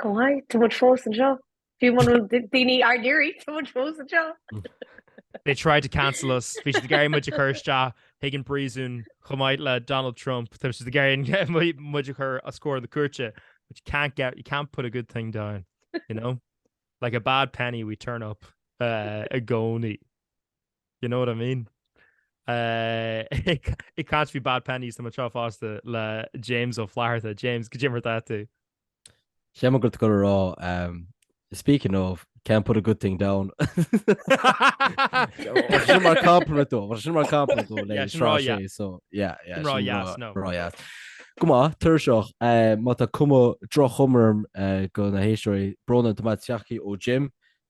Go bhfai, tá muid fós anseo. Fiú muna bhfuil daoine dár n-iarraidh, tá muid fós anseo. They tried to cancel us. Bhí siad ag iarraidh muid a chur isteach chuig an bpríosún chomh maith le Donald Trump. Bhí siad ag iarraidh muid a chur os comhair na cúirte. But you can't get, you can't put a good thing down, you know? Like a bad penny we turn up uh, i gcónaí. You know what I mean? Uh, it can't be bad pennies tá muid anseo fosta le James Ó Flatharta. James, cad é mar atá tú. Bhí mé ag dul a rá ehm speaking of, can't put a good thing down Sin mar compliment dó, mar sin mar compliment dó le Sraith 6 so yeah yeah Sin rá dheas, no. Rá dheas. Go maith, tuirseach. Má tá cuma droch-chuma orm do na héisteoirí, brón an domhain seachadadh ó Jim.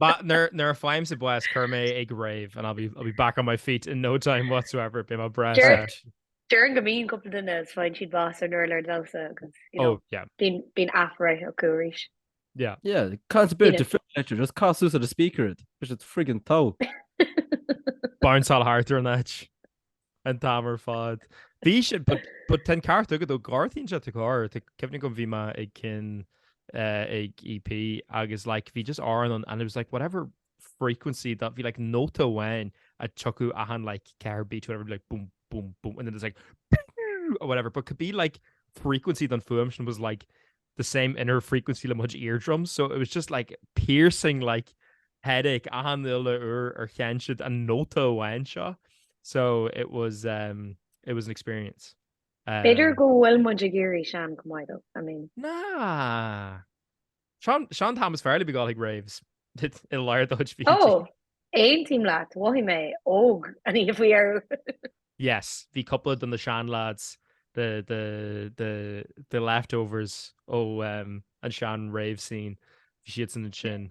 Nuair a fhaighimse bás, cuir mé ag rave and I'll be back on my feet in no time whatsoever, beidh mé breá set. Déarfainn go mbíonn cúpla duine is faigheann siad bás ar an urlár damhsa agus you know bíonn athbheatha acu arís. Yeah, can't beat defibrillator, just cas suas ar an speaker, bhí siad friggin' tall. Bounceáil thart ar an áit. An t-am ar fad. Bhí sé, but ten ceart agad ó gártaín sé cár, cefnig go bhí me ag cin eh, ag EP agus like bhí just áran an and it was like whatever frequency that bhí like nota bhain a tucú ahan like care beat whatever like boom boom boom and then it's like or whatever but could be like frequency don fuam sin was like the same inner frequency le mo chuid eardrums so it was just like piercing like headache achan uile uair ar chan siad an nóta amháin seo so it was um it was an experience. Um, B'fhéidir go bhfuil muid ag éirí sean go maith dó, I mean. Ná! Sean, Sean Thomas Fairley ag gabháil chuig raves i lár na hoíche. Ó, aontaím leat, mhothaigh mé óg an oíche faoi dheireadh. Yes, bhí cúpla de na sean-lads, the, the, the, the leftovers ó an sean rave scene, bhí siadsan ansin.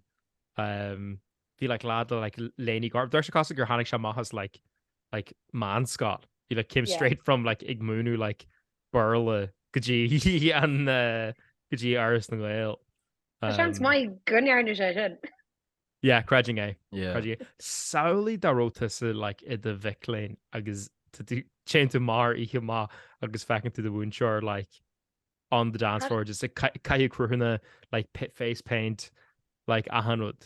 Bhí like lad le like léinidh ghorm, d'amharc sé cosúil gur tháinig sé amach as like, like meánscoil. He like came straight from like ag múineadh like Béarla go dtí an, go dtí Áras na nGael. Tá seans maith go ndearna sé sin. Yeah, creidim é. Yeah. Creidim é. Samhlaigh dá raibh tusa like, i do mhac léinn agus tá tú téann tú mar oíche maith agus feiceann tú do mhúinteoir like, on the dance floor, just like, cai- caitheadh cruthanna like, pa- face paint, like, achan rud.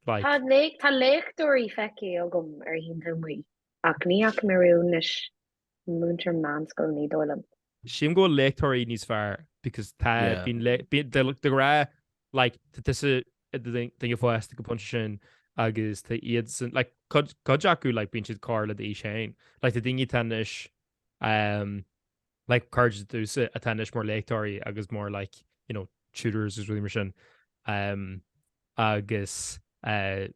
Like, Tá lé- tá léachtóirí feicthe agam ar oícheanta amuigh, ach ní fhaca mé riamh anois múinteoir meánscoile ní dóigh liom. Sílim go bhfuil léachtóirí níos fearr because tá bíonn léachtóirí de ghnáth like tá tusa duine fásta ag an phointe sin agus tá iadsan like cuid acu like bíonn siad gar le d'aois féin like tá daoine atá anois um like cairde duitse atá anois mar léachtóirí agus mar like you know tutors agus rudaí mar sin um agus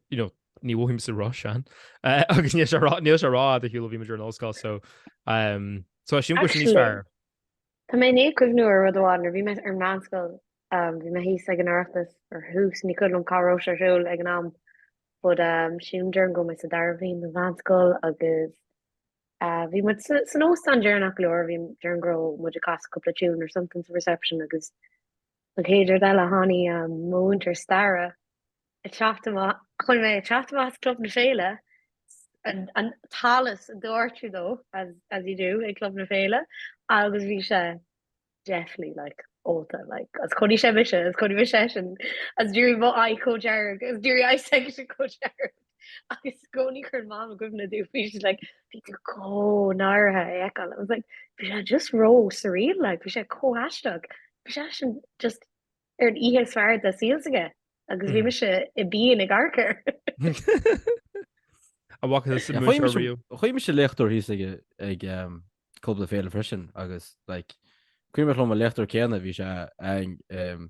you know ní mhothaímse róshean agus níl sé rá níl sé rófhada ar shiúl ó bhí muid ar an ollscoil so um so I assume go sin níos Actually, fearr. Tá mé i ndiaidh cuimhniú ar rud amháin nuair bhí mé ar meánscoil um, bhí mé thíos ag an Oireachtas ar thús ní cuimhin liom cá raibh sé ar siúl ag an am but um, sin déarfainn go raibh mé sa dara bhliain de mheánscoil agus uh, bhí muid sa- san óstán deireanach go leor bhí déarfainn go raibh muid ag casadh cúpla tiún or something sa reception agus An chéad rud eile, tháinig mo mhúinteoir staire ag teacht amach chonaic mé ag teacht amach as Club na Féile, an t-allas ag doirteadh dó, as as you do ag Club na Féile, agus bhí sé definitely like ólta like, agus chonaic sé mise, agus chonaic mise eisean, agus d'éirigh mo aghaidh chomh dearg, agus d'éirigh aghaidh s'aigesean chomh dearg. agus i gcónaí cuireann Mam i gcuimhne domh bhí sí like bhí tú chomh náirithe á fheiceáil, I was like bhí sé just ró surreal like bhí sé chomh haisteach, bhí sé sin just ar an oíche is fearr de saol s'aige agus bhí mise i bpian ag amharc air. An bhfaca tusa múinteoir Chuimhnis- riamh? Chonaic mise léachtóir thíos ag ag em, Club na Féile freisin agus like cuimhneach liom an léachtóir céanna bhí sé ag em,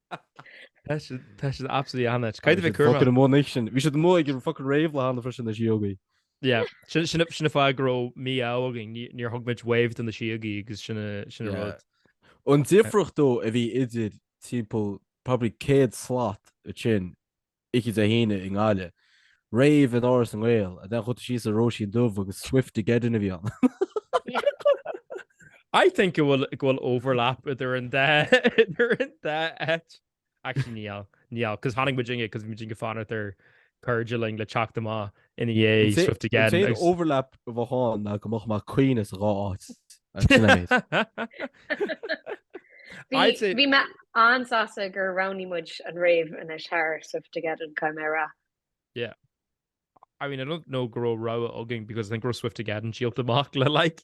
Tá siad, tá siad absolutely an-áit. Cad a bhí cúrma? Fucking amuigh anois sin. Bhí siad amuigh ag an fucking rave linne freisin na síogaí. Yeah, sin, sin, sin an fáth go raibh mí-ádh againn, ní, níor thug muid wave do na síogaí agus sin a, sin a Yeah. rud. An difríocht though a bhí idir timpeall probably 100 slat ansin oíche Dé hAoine i nGaillimh. Rave in Áras na nGael. And then chuaigh tú síos sa Róisín Dubh agus Swiftogeddon a bhí ann. I think go bhfuil go bhfuil overlap idir an dá idir an dá áit. Actually níl, níl, 'cause tháinig muidinne 'cause bhí muidinne ag fanacht ar chairde linn le teacht amach ina dhiaidh Swiftogeddon. Is é an overlap a bheadh ann ná go mbeadh mé ag caoineadh sa dhá áit. Bhí mé an-sásta gur roghnaigh muid an rave anois thar Swiftogeddon, caithfidh mé a rá. Yeah. I mean, I don't know go raibh rogha againn because I think go raibh Swiftogeddon díolta amach le like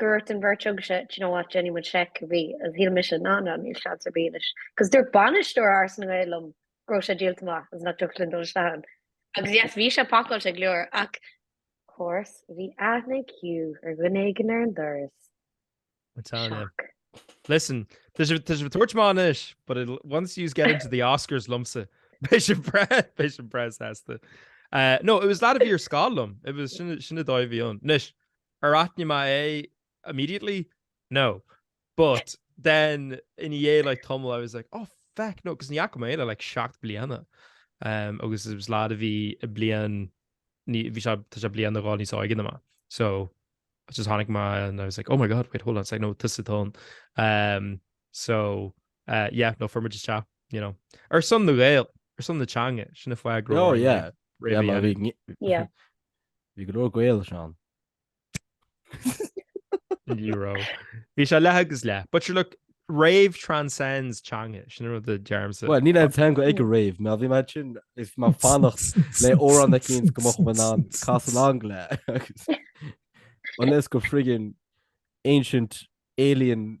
Dúirt an bheirt agaibhse, Do you know what, déanfaidh muid seic cibé. Agus shíl mise, Nah, nah, níl seans ar bith anois. Agus dúirt bainisteoir Áras na nGael liom go raibh sé díolta amach agus nach dtiocfadh linn dul isteach ann. Agus yes, bhí sé pacáilte go leor, ach. Course, bhí aithne ag Hugh ar dhuine éigin ar an doras. I'm telling you. Shock. Listen, tá sibh tá sibh ag tabhairt amach anois, but it'll, once yous get into the Oscars liomsa, beidh sibh breá, beidh sibh breá sásta. Eh, no, it was lad a bhí ar scoil liom, it was, sin, sin an dóigh a bhí ann. Anois, Ar aithin mé é immediately? No. But then ina dhiaidh like tamall I was like oh feck no, 'cause ní fhaca mé é le like seacht bliana um agus it was lad a bhí bliain ní bhí sé tá sé bliain nó dhó níos óige na mé so I just tháinig mé and I was like oh my god wait hold on a sec no tusa atá ann um so uh yeah no fuair muid isteach you know ar son na Gael ar son na teanga sin a fuair a gcró oh yeah yeah má bhí Yeah. Bhí go leor Gaeil ansin. Ní raibh. Bhí sé leath agus leath. But sure look, rave transcends teanga, sin rud a deirimse. Well, níl aon teanga ag go rave, mar bhí mé sin is mé ag fanacht le amhrán na cín go mocht man an cas an angla agus unless go friggin ancient alien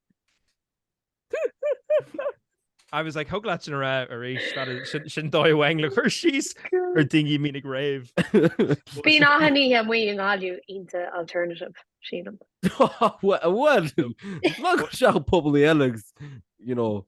I was like, thig leat sin a rá arís, that is, sin, sin dóigh amháin le cur síos ar duine a mhíniú rave. Bíonn achan oíche amuigh i nGaillimh iontach alternative, sílim. Bhuel, bhuel, ná go seach pobail eile agus, you know,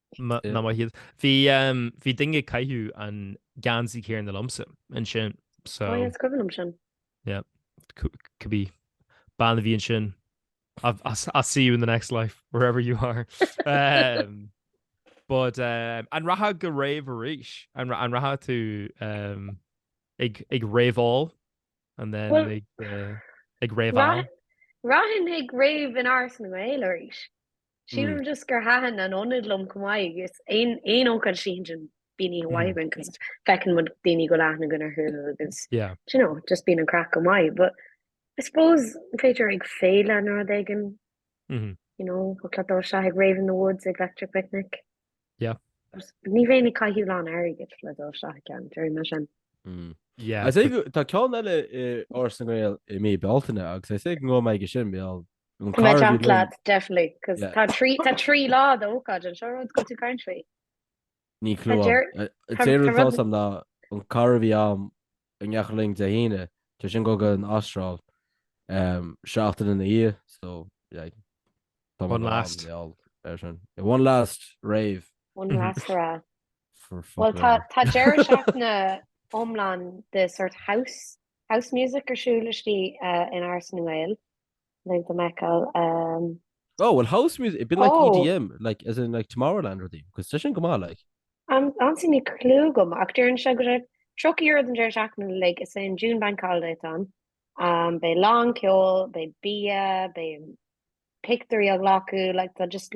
ná maith iad. Bhí duine ag caitheamh an geansaí céanna liomsa ansin so. Ó is cuimhin liom sin. Yeah, could be bean a bhí ansin. I'll see you in the next life, wherever you are. But an rachfá go rave arís? An rachaidh tú ag raveáil and then ag raveáil? Rachainn ag rave in Áras na nGael arís. Sílim just gur thaitin an ionad liom chomh maith agus aon aon ócáid a bhíonn ansin bíonn oíche mhaith againn cos feiceann muid daoine go bhfuil aithne againn orthu agus Yeah. do you know, just bíonn an craic go maith but I suppose b'fhéidir ag féile nó rud éigin Mhm. you know, thig leat dul isteach ag Rave in the Woods ag Electric Picnic. Yep. Ní bheinn ag caitheamh lán airgid le dul isteach i gceann, déarfaidh mé sin. Mm. Yeah. Is é go- tá ceann eile i Áras na nGael i mí Bealtaine agus is dóigh go mbeidh mé aige sin bheadh an Tá mé carr ag teacht bhí linn. leat, definitely, 'cause Yeah. tá trí- tá trí lá d'ócáid anseo, rud go dtí country. Níl clue agam. deir- An tá- tá té rud rud- atá Sam ná an carr a bhí ann ag imeacht uainn Dé hAoine, tá sé ag dul go an Astráil seachtain ina dhiaidh, so yeah, tá mé go ham geall air sin. Yeah, one last rave. One last hurrah. For fuck Bhuel, tá, tá deireadh seachtaine iomlán de sort house, house music ar siúl istigh in Áras na nGael. Link to Meiceal um. Oh well house music it'd be like oh. EDM like as in like Tomorrowland rudaí cos tá sin go maith like. An ansin níl clue agam ach deireann sé go raibh tríocha euro don deireadh seachtaine uilig is é an June Bank Holiday atá ann um beidh lán ceoil beidh bia beidh pictiúirí á nglacadh like tá just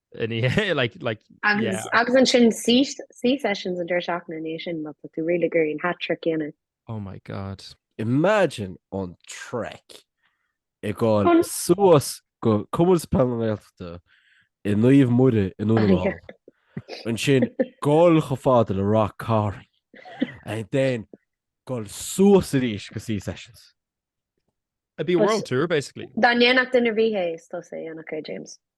Agus ansin sea sessions an deireadh seachtaine ina dhiaidh sin má tá tú really ag iarraidh an hat trick a dhéanamh. Oh my God. Imagine an trek ag goil suas go Comórtas Peile na Gaeltachta i Naomh Muire i nDún na nGall. Ansin goil chomh fada le Ráth Chairn and then goil suas arís go sea sessions. It'd be a world tour basically. Dá ndéanfadh duine ar bith é is tusa a dhéanfadh é, James.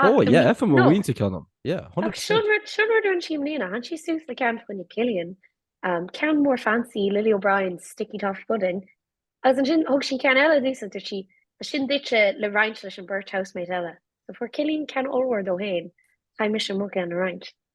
Ó, yeah, faigheann mo mhuintir ceann dom. Yeah, 100%. Sin rud a rinne sí i mbliana, tháinig sí suas le ceann faoi choinne Killian, ceann mór fancy, Lily O'Brien, sticky toffee pudding, agus ansin thug sí ceann eile domhsa agus dúirt sí, Tá sin duitse le roinnt leis an bheirt housemate eile. So fuair Killian ceann ollmhór dó féin, chaith mise mo cheann a roinnt.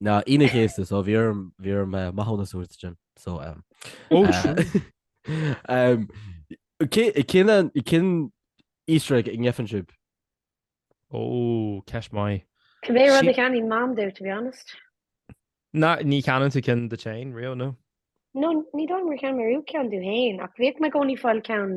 No, Aoine an Chéasta, so bhí orm, bhí orm maithiúnas a thabhairt ansin, so ehm. Oh true. Ehm cé, cén an, cén Easter egg a ngeibheann sibh? Oh, ceist maith. Cibé rud a cheannaíonn Mam domh, to be honest? Nah, ní cheannaíonn tú ceann duit féin riamh, nó? No, ní dóigh liom gur cheannaigh mé riamh ceann domh féin, ach bhíodh mé i gcónaí ag fáil ceann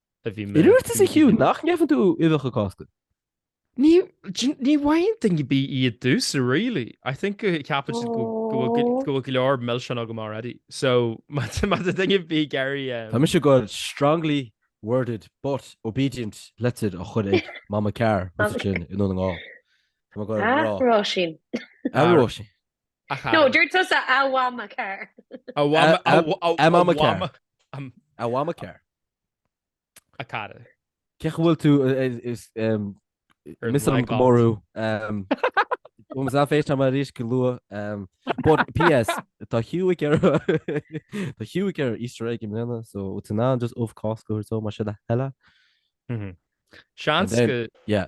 Agus tusa, a Hugh, nach ngeibheann tú uibheacha Cásca? Ní bhfaigheann duine ar bith iad domhsa, really. I think go ceapann siad go bhfuil go leor milseáin agam already. So, má tá duine ar bith ag iarraidh. Tá mise ag goil strongly worded but obedient letter a chur chuig Mama Carr roimhe sin i nDún na nGall. Tá mé go. A Róisín. A Róisín. No, dúirt tusa a Mhama Carr. A Mhama Carr. A Mhama Carr. A chara. Cén chaoi a bhfuil tú is miss liom go mór thú. Bhfuil mé FaceTime arís go luath. But PS, tá Hugh ag iarraidh tá Hugh ag iarraidh Easter egg i mbliana so bhfuil tú in ann just ubh Cásca a thabhairt dó más é do thoil é. Seans go. Yeah.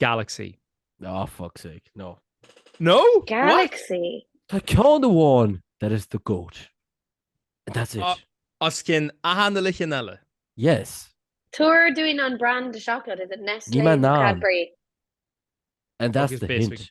Galaxy. Oh fuck's sake, no. No? Galaxy? What? Tá ceann amháin that is the goat and that's it. Os cionn achan uile cheann eile? Yes. Tabhair dúinn an brand de chocolate, is it Nestlé, Cadbury? And that's the hint.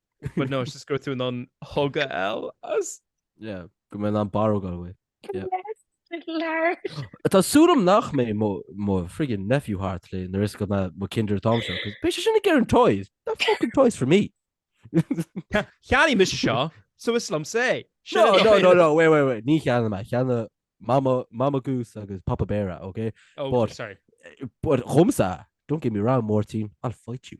But no, it's just go through an hug a fháil as. Yeah, go mbeidh an barróg an bhfuil. Tá súil agam nach mbeidh mo friggin nephew thart le na is go na mo kinder an t-am seo, cos beidh sé sin ag iarraidh an toys, that fucking toys for me. Cheannaigh mise seo, so is liomsa é. No, no, no, no, wait, wait, wait, níor cheannaigh mé, cheannaigh mama, mama goose agus papa bear, ok? Oh, but, sorry. But chugamsa, don't get me wrong, Máirtín, I'll fight you.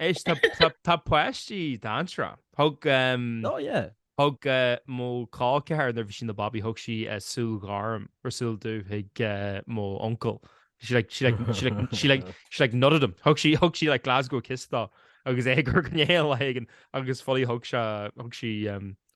Éist, tá páistí dainséarach. Thug, Oh yeah. thug mo col ceathar, nuair a bhí sí ina babaí, thug sí súil ghorm or súil dubh chuig mo uncail. She like, she like, she like, she like, she like nutted him. Thug sí, thug sí like Glasgow kiss dó, agus é ag cur go néal le héigin, agus fully thug sé, thug sí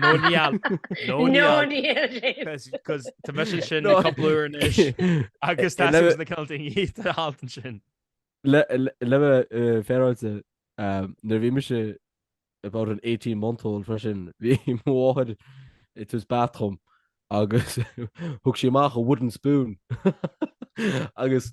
No níl. No níl. Cos tá mise ansin le cúpla uair anois agus tá suas na cilt i ndiaidh an alt ansin. Le bheith féaráilte, nuair a bhí mise about an eighteen month old freisin, bhí mo mháthair ag tabhairt bath dhom agus thug sí amach an wooden spoon agus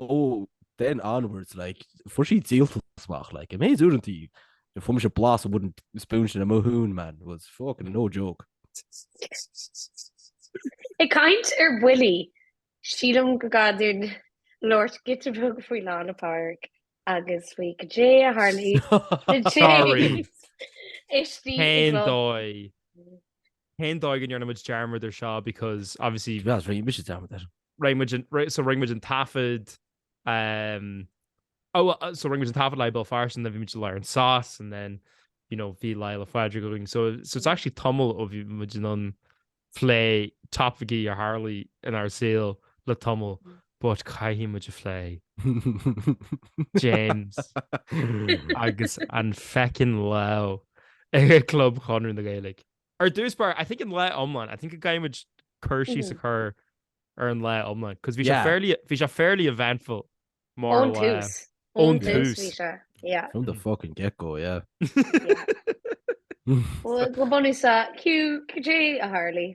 ó then onwards like fuair sí díoltas amach like an méid uaireanta a fuair mise blas an wooden spoon sin ar mo thóin man was fucking no joke Ag caint ar bhuillí, sílim go gcaithfinn labhairt giota beag faoi Lá na Pádraig agus faoi cad é a tharlaigh na Sorry. tithe istigh i Cén gclub. dóigh? Cén dóigh a ndearna muid dearmad air seo because obviously. Bhuel, is rinne mise dearmad air. Rinne muid an, so rinne muid an taifead, um, oh well, so rinne muid an taifead live i mBéal Feirste and then bhí muid uilig ar an sauce and then, you know, bhí Lá 'le Phádraig againn so, so it's actually tamall ó bhí muid in ann plé topaicí a tharlaigh inár saol le tamall But caithfidh muid a phlé. James agus an feckin lá ag Club Chonradh na Gaeilge. Ar dtús báire, I think an lá iomlán, I think go gcaithfidh muid cur síos a chur ar an lá iomlán, because bhí sé fairly, bhí sé fairly eventful mar lá. Ón tús. Ón tús bhí sé, yeah. From the fucking get go, yeah. Yeah. Go bunúsach, Hugh, cad é a tharlaigh?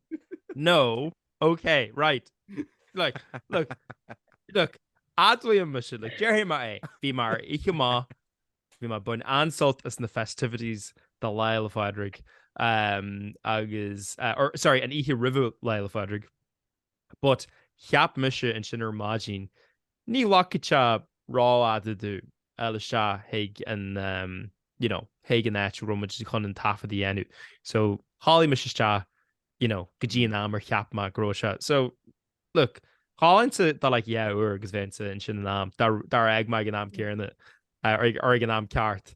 No, ok, right. Like, look, look, admhaím mise, like, déarfaidh mé é, bhí mé ar oíche maith, bhí mé ag baint an-sult as na festivities do Lá 'le Phádraig, um, agus, uh, or, sorry, an oíche roimhe Lá 'le Phádraig, but cheap mise ansin ar maidin, Ní ghlacfaidh sé rófhada domh fháil isteach chuig an you know chuig an áit a raibh muid chun an taifead a dhéanamh. So chodlaigh mise isteach you know go dtí an am ar cheap mé go raibh sé. So look, cháillinnse do like dhá uair agus bheinnse ansin in am, dar dar fhág mé ag an am céanna or ag an am ceart.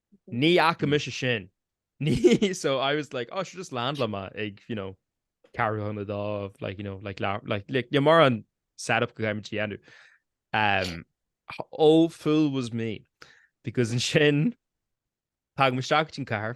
Ní fhaca mise sin. So I was like, oh sure just land liom ag you know ceathrú chun a dó like you know like lear- like like níl mórán set up go gcaithfidh muid a dhéanamh. Umm oh fool was me because ansin tagaim isteach go dtí an cathair,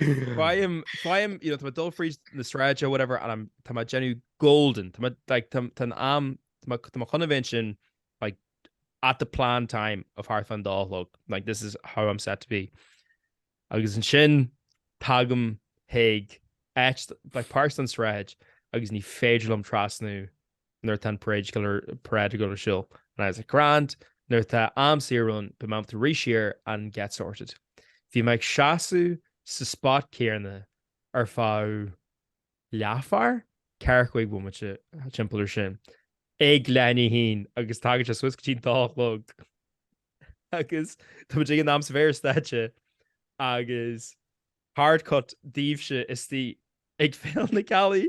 Faighim, faighim, you know, tá mé ag dul fríd na sráide, or whatever, and I'm, tá mé ag déanamh golden, tá mé, like, tá an am, tá mé chun a bheith ansin, like, at the planned time of thart fán dó a chlog, like, this is how I'm set to be. Agus ansin, tagaim, chuig áit, like, páirt den sráid, agus ní féidir liom trasnú nuair atá an parade siúil, parade ag dul ar siúl, and I was like grand, nuair atá am saor ann beidh mé ábalta rith siar and get sorted. Bhí mé ag seasamh sa spot céarna ar feadh leathuair, ceathracha cúig bomaite timpeall air sin, ag leath i ndiaidh a haon agus tagann sé suas go dtí an dó a chlog agus tá muid in ainm is a bheith ar stáitse agus hard cut daoibhse istigh ag Féile na Gealaí.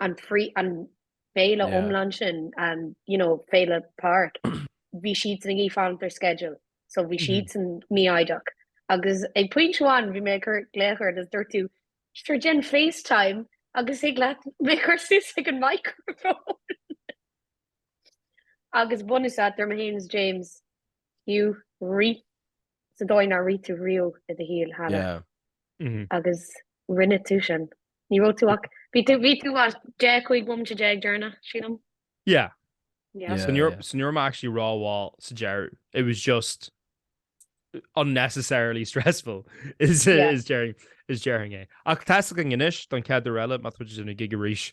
an fri- an féile Yeah. iomlán sin, an, you know, Féile Pádraig, bhí siadsan ag rith under schedule. So bhí Mhm. siadsan mífhoighdeach. Agus ag pointe amháin bhí mé ag cur glaoch ort agus dúirt tú, sure déan FaceTime agus thig leat mé a chur suas ag an microphone. agus bunúsach dúirt mé, James, James, Hugh, rith. sa dóigh nár rith tú riamh i do shaol cheana. Yeah. Agus rinne tú sin. Ní raibh tú ach bhí tú bhí tú as dé chuig bum te déag dearna sílam? Yeah. Yeah. So you're so you're actually raw wall sa Jerry. It was just unnecessarily stressful is yeah. is Jerry is Jerry é. Ach tá go inis don cead eile mat chu sinna gigaríis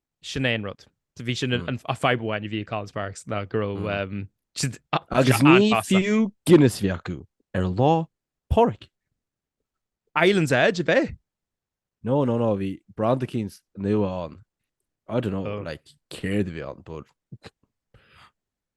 sin é an rud. Bhí sin an fadhb amháin a bhí ag Collins Barracks ná go raibh. Agus ní fiú Guinness a bhí acu ar lá pádraig. Islands Edge ab ea? No no no bhí branda eicínt nua ann. I don't know like céard a bhí ann but.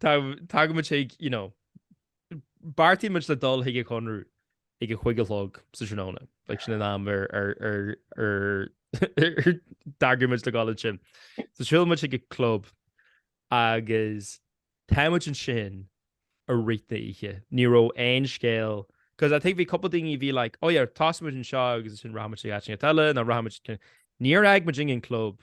Tagaimid chuig, you know, beartaímid le dul chuig an Chonradh ag a cúig a chlog sa tráthnóna, like sin an am ar d'eagraigh muid le gabháil ansin. So siúlaimid chuig an club agus táimid ansin i rith na oíche. Ní raibh aon scéal, 'cause I think bhí cúpla daoine a bhí like, 'oh yeah, tosóimid anseo agus ansin rachaimid chuig áiteanna eile nó rachaimid', níor fhág muid an club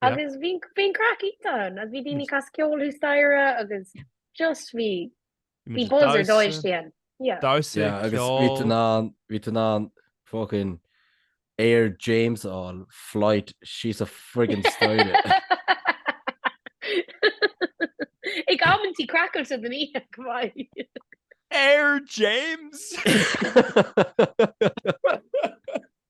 Agus bhí bhí craic iontach ann agus bhí daoine ag casadh ceoil thuas staighre agus just bhí bhí buzz ar dóigh istigh ann. Yeah. Damhsa, Yeah agus bhí ceol. tú in ann bhí tú in ann fucking Air James a fháil, flight síos an friggin staighre. Ag amantaí craiceáilte den oíche go maith. Air James!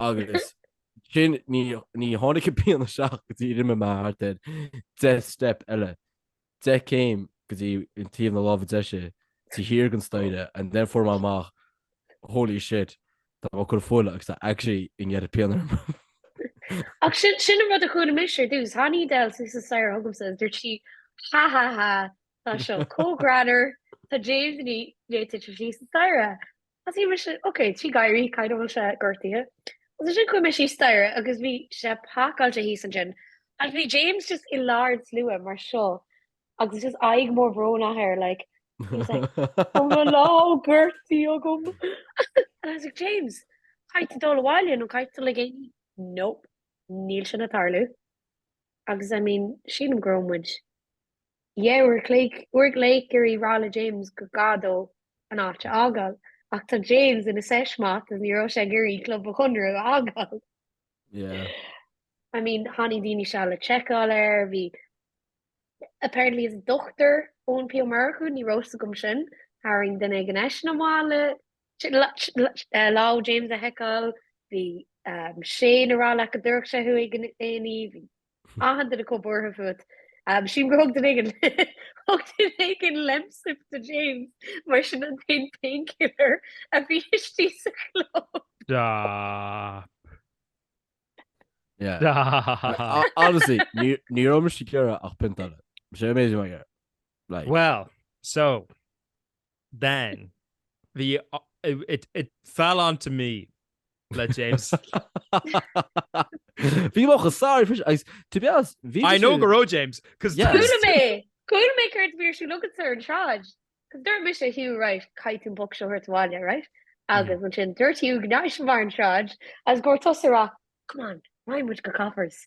Agus sin ní tháinig an pian isteach go dtí rinne mé thart ar 10 steip eile, 10 céim go dtí an taobh na láimhe deise taobh thiar den staighre and then fuair mé amach holy shit tá mé ag cur fola agus tá actually neart pian orm. Ach sin an rud a chuala mise ar dtús, Tháinig Adele suas an staighre chugamsa agus dúirt sí ha ha ha tá seo chomh greannmhar, tá James i ndiaidh titim síos an staighre. Thosaigh mise, ok, tríd gáirí, a Chaoimhe, an bhfuil sé gortaithe. Agus ansin chuaigh mé síos staighre agus bhí sé pacáilte thíos ansin. Agus bhí James just i lár an tslua mar seo agus just aghaidh mór brónach air like he was like oh mo lámh gortaithe agam and I was like James caithfidh tú dul abhaile nó caithfidh tú dul chuig A&E nope níl sin ag tarlú agus I mean sílim go raibh muid Dhá uair chloig, uair go leith ag iarraidh rá le James gur gá dó an áit a fhágáil. Ach tá James ina sesh moth agus ní raibh sé ag iarraidh Club an Chonartha a fhágáil. Yeah. I mean, tháinig daoine síos le checkáil air, bhí apparently is dochtúir Eoin P. Ó Murchú, ní raibh fhios agam sin, tharraing duine éigin eisean amach le lámh James a sheiceáil, bhí sé ag rá leat go dtabharfadh sé chuig an A&E, bhí. achan duine chomh buartha fút. Sílim gur thug duine éigin thug duine éigin Lemsip do James mar sin an t-aon painkiller a bhí istigh sa chlub. Stop. Yeah. Stop. Honestly, ní ní raibh uaim sa deireadh ach pionta eile. Sé amazing, my girl. Like, Well, so Then, bhí it, it fell on to me le James. Bhí mé chomh sásta freisin agus to be honest, bhí I know go raibh James, cos there was. Chuala mé, chuala mé céard a bhí ar siúl agatsa ar an tsráid, cos dúirt mise, Hugh, right, caithfidh tú an boc seo a thabhairt abhaile, right? Agus ansin dúirt Hugh go ndeachaigh sé amach ar an tsráid agus go raibh tusa ag rá, Come on, raghaidh muid go Coppers.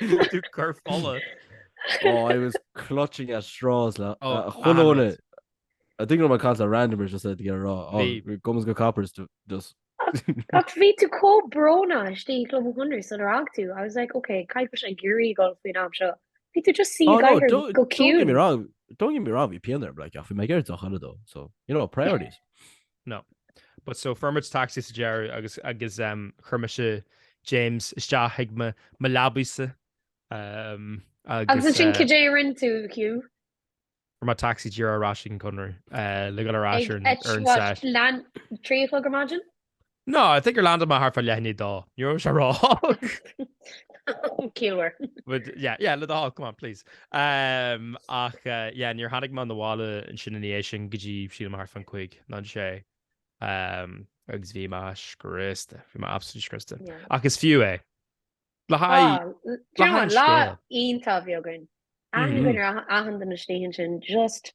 Tú ag cur fola. Oh, I was clutching at straws. Hold on. I think gur chas randomer just said to get a raw. Oh, come us go Coppers to just. Ach bhí tú chomh brónach istigh i gClub an Chonradh sular fhág tú. I was like, ok, caithfidh nach bhfuil sé ag iarraidh dul faoin am seo. Bhí tú just suí Oh, ag no, oighir don't, go don't get me ciúin. wrong. Don't get me wrong, bhí pian orm, like, ach bhí mé ag iarraidh deoch eile though, so, you know, priorities. No. But so fuair muid taxi sa deireadh agus agus ehm chuir mise James isteach ag mo mo leabaidhse ehm agus eh. Agus ansin cad é a rinn tú, Hugh? Fuair mé taxi díreach ar ais ag an Conradh eh le dhul ar ais ar an ar an sesh. Leath trí a chlog ar maidin? No, I think gur landáil mé thart fá leath i ndiaidh a dó. Ní raibh sé ró. Killer. But yeah yeah le do thoil, come on please. Ach yeah, níor tháinig mé chun an bhaile ansin ina dhiaidh sin go dtí, sílim, thart fán gcúig nó a sé. Agus bhí mé scriosta, bhí mé absolutely scriosta. Ach is fiú é. Le haghaidh scéal. Lá iontach a bhí againn. Aithne againn ar achan duine istigh ansin just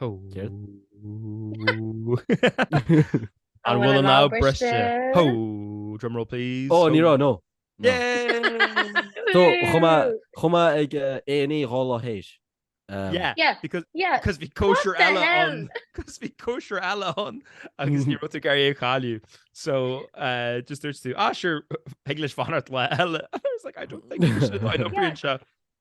An bhfuil an lámh briste? Hó! Drum roll please. Ó, ní raibh, no. Chuaigh mé ag A&E dhá lá théis. Yeah, because bhí cóisir eile ann. Because bhí cóisir eile ann agus ní raibh tú ag iarraidh é chailleadh. So, just dúirt tú, ah, sure, thig leis fanacht lá eile. And I was like, I don't think you should, I know bhí anseo.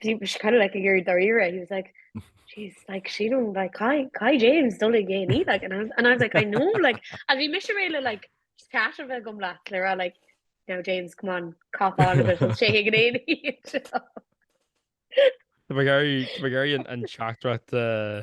he was kind of like a Gary Darira. He was like, she's like she don't like Kai Kai James don't like gay me like and I was and I was like I know like I mean Miss really like just cash of it gum black Clara like you know James come on cop on a bit shaking an éí Tá gairí an an chatrat uh,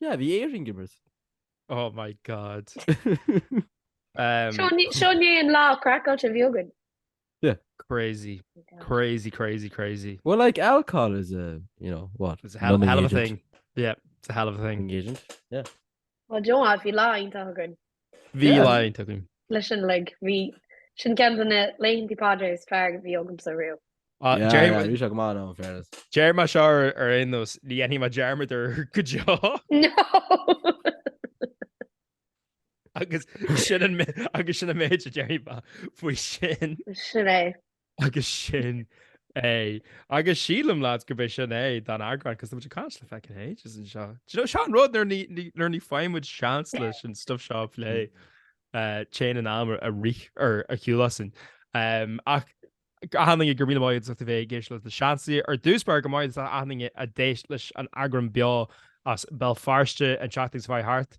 Yeah, bhí Éirinn gibert. Oh my god. Seo ní an lá craiceáilte a bhí againn. Yeah. Crazy. Crazy, crazy, crazy. Well, like, alcohol is a, you know, what? It's a hell, hell of a thing. Yeah, it's a hell of a thing. Agent, yeah. Well, do you know what, bhí lá iontach againn. Bhí laethanta againn. leis sin uilig. Bhí, sin ceann de na laethantí Pádraig is fearr a bhí agamsa ariamh. Ah, Yeah, deir- yeah, bhí sé go maith now in fairness. déarfaidh mé seo ar ar aon nós, ní dhéanfaidh mé dearmad air go deo. No! Agus sin an mé- agus sin an méid a déarfaidh mé faoi sin. Sin é. Agus sin é. Agus sílim, lads, gurb é sin é don eagrán, cos tá muid ag caint le feckin' ages anseo. Do you know, seo an rud, nuair ní, ní, nuair ní faigheann muid seans leis an stuff seo a phlé, eh, téann an am ar rith ar a chiúlásain. Em, ach, achan duine go raibh míle maith agat as ucht a bheith ag éisteacht leis na Seansálaithe, ar dtús báire go raibh maith agat achan duine a d'éist leis an eagrán beo as Béal Feirste an tseachtain seo chuaigh thart,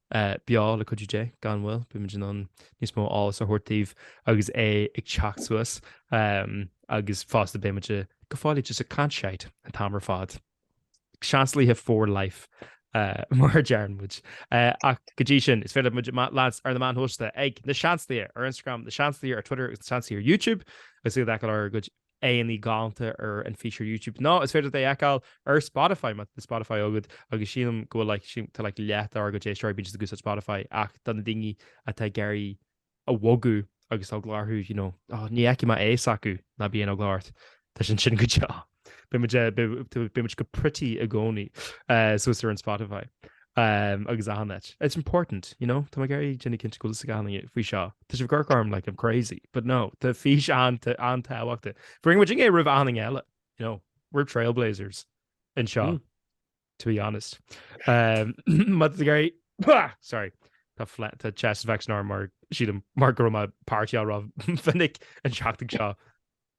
beo le cuidiú Dé, gan mhoill, beimid in ann níos mó eolas a thabhairt daoibh agus é ag teacht suas, agus fosta beimid go fóill just ag caint shite an t-am ar fad. Seansálaithe for life, mar a deireann muid. Ach go dtí sin, is féidir muid, lads, ar na meáin shóisialta, ag, Na Seansálaithe, ar Instagram, Na Seansálaithe ar Twitter agus Na Seansálaithe ar YouTube, agus iad a fheiceáil ár gcuid aghaidheannaí galánta ar an feature YouTube. Nó is féidir é a fheiceáil ar Spotify má tá Spotify agat, agus sílim go bhfuil like sílim tá like leath dár gcuid éisteoirí bídís ag úsáid Spotify ach do na daoine atá ag iarraidh a bhogadh agus tá eagla orthu you know ó ní fheicfidh mé aghaidh s'acu ná bí aon eagla ort tá sé ansin go deo. Beidh muid eh, beidh muid go pretty i gcónaí eh, suas ar an Spotify. Umm agus achan áit. It's important, you know? Tá mé ag iarraidh ag déanamh cinnte go bhfuil a fhios ag achan duine faoi seo. Tá sibh ag amharc orm like I'm crazy. But no, tá fís an-tábhachtach. Rinne muid é roimh achan duine eile, you know? We're trailblazers anseo, to be honest. Umm má tá tú ag iarraidh Pá! Sorry. Tá fle- tá chest infection orm mar sílim mar go raibh mé ag partyáil rómhinic an tseachtain seo.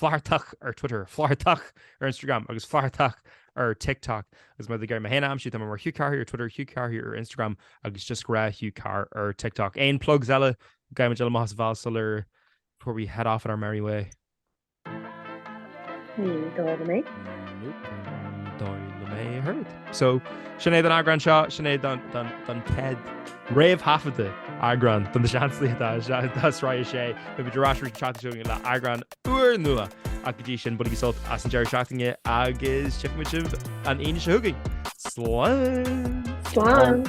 Flathartach ar Twitter, Flathartach ar Instagram agus Flathartach ar TikTok. Agus má tá tú ag iarraidh mé féin a aimsiú, tá mé mar Hugh Carr Here ar Twitter, Hugh Carr Here ar Instagram agus just grá Hugh Carr ar TikTok. Aon plugs eile? Gabhaim muid eile amach as an bhealach sular before we head off on our merry way. Ní dóigh liom é. Nope, ní dóigh liom é a thabhairt. So, sin é don eagrán seo, sin é don, don, don chéad réamhthaifeadadh eagrán don seanslí atá isteach do Sraith 6. Beidh muid ar ais arís an tseachtain seo chugainn le eagrán úrnua. Ach go dtí sin, bainigí sult as an deireadh seachtaine agus tchífidh muid sibh an Aoine seo chugainn. Slán! Slán!